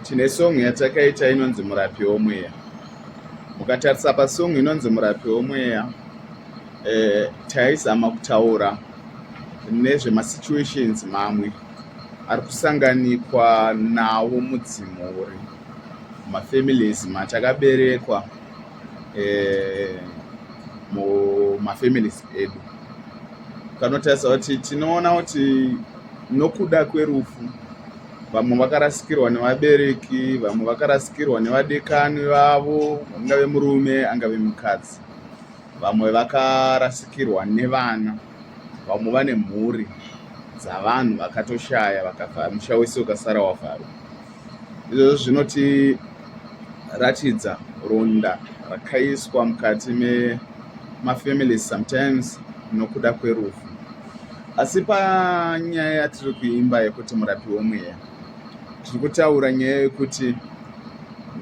tine song yatakaita inonzi murapi womweya mukatarisa pasong inonzi murapi womweya eh, taizama kutaura nezvemasituations mamwe ari kusanganikwa nawo mudzimu uri mafamilies matakaberekwa eh, mumafamilies edu kanotarisa kuti tinoona kuti nokuda kwerufu vamwe vakarasikirwa nevabereki vamwe vakarasikirwa nevadekani vavo angave murume angave mukadzi vamwe vakarasikirwa nevana vamwe vane mhuri dzavanhu vakatoshaya vakavhara musha wese ukasara wavharwa izvozvo zvinotiratidza ronda rakaiswa mukati memafamilies sometimes nokuda kwerufu Asi panyaya yatiri kuimba yekuti murapi womweya, tiri kutaura nyaya yekuti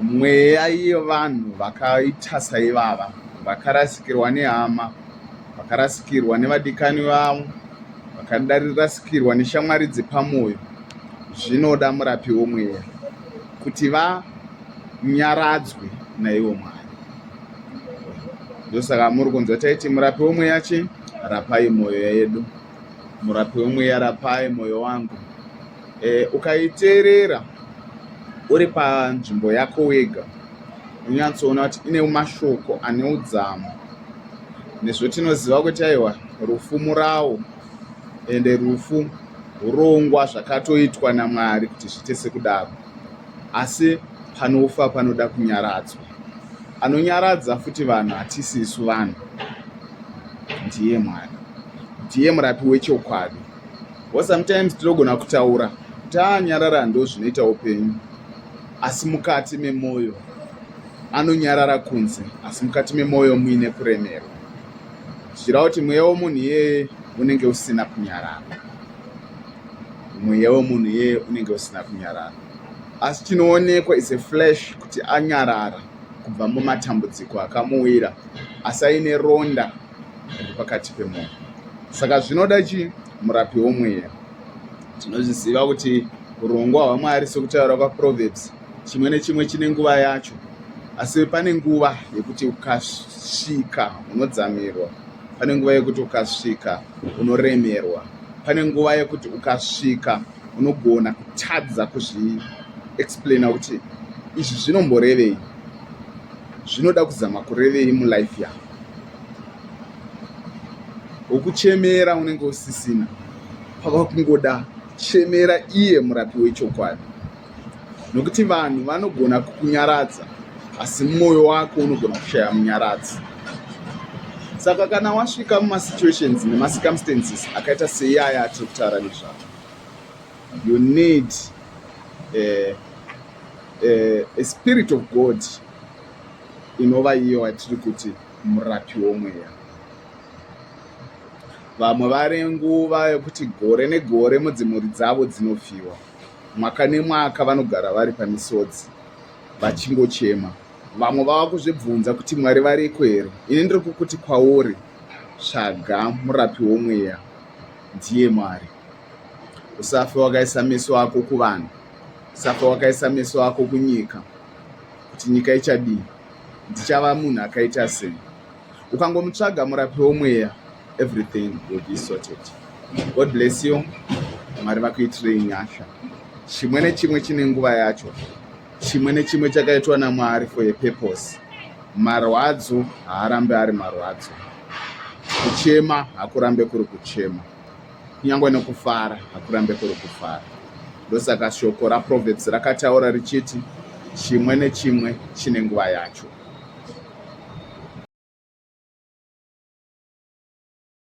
mweya yevanhu vakaita saivava vakarasikirwa nehama, vakarasikirwa nevadikani vavo, vakarasikirwa neshamwari dzepamwoyo, zvinoda murapi womweya kuti vanyaradzwe naivo Mwari. ndosaka muri kunzwa taiti murapi wemweya chi rapai mwoyo yedu murapi wemweya rapai mwoyo wangu e, ukaiteerera uri panzvimbo yako wega unyatsoona kuti ine mashoko ane udzamu nezvotinoziva kuti aiwa rufu murawo ende rufu urongwa zvakatoitwa namwari kuti zviite sekudaro asi panofa panoda kunyaradzwa anonyaradza futi vanhu hatisi isu vanhu ndiye mwari ndiye murapi wechokwadi wo sometimes tinogona kutaura taanyarara ndo zvinoita upenyu asi mukati memwoyo anonyarara kunze asi mukati memwoyo muine kuremerwa zvichireva kuti mweya womunhu iyeye unenge usina kunyarara mweya womunhu iyeye unenge usina kunyarara asi chinoonekwa is a flash kuti anyarara kubva mumatambudziko akamuwira asi aine ronda riri pakati pemwoyo saka zvinoda chii murapi womweya tinozviziva kuti urongwa hwamwari sekutaura kwaproverbs chimwe nechimwe chine nguva yacho asi pane nguva yekuti ukasvika unodzamirwa pane nguva yekuti ukasvika unoremerwa pane nguva yekuti ukasvika unogona kutadza kuzvi explaina kuti izvi zvinomborevei zvinoda kuzama kurevei mulife yako wokuchemera unenge usisina pava kungoda chemera iye murapi wechokwadi nokuti vanhu vanogona kukunyaradza asi mwoyo wako unogona kushaya munyaradzi saka kana wasvika mumasituations nemacircumstances akaita seiyaya atiri kutaura nezvavo you need a, a, a spirit of god inova iyo watiri kuti murapi womweya vamwe vari nguva yekuti gore negore mudzimhuri dzavo dzinofiwa mwaka nemwaka vanogara vari pamisodzi vachingochema vamwe vava kuzvibvunza kuti mwari variko here ini ndiri kukuti kwauri tsvaga murapi womweya ndiye Mwari. Usafe wakaisa meso ako kuvanhu, usafe wakaisa meso ako kunyika, kuti nyika ichadii, ndichava munhu akaita sei. Ukangomutsvaga murapi womweya, everything will be sorted. God bless you. Mwari vakuitirei nyasha. Chimwe nechimwe chine nguva yacho. chimwe nechimwe chakaitwa namwari for a purpose marwadzo haarambe ari marwadzo kuchema hakurambe kuri kuchema kunyange nekufara hakurambe kuri kufara ndosaka shoko raproverbs rakataura richiti chimwe nechimwe chine nguva yacho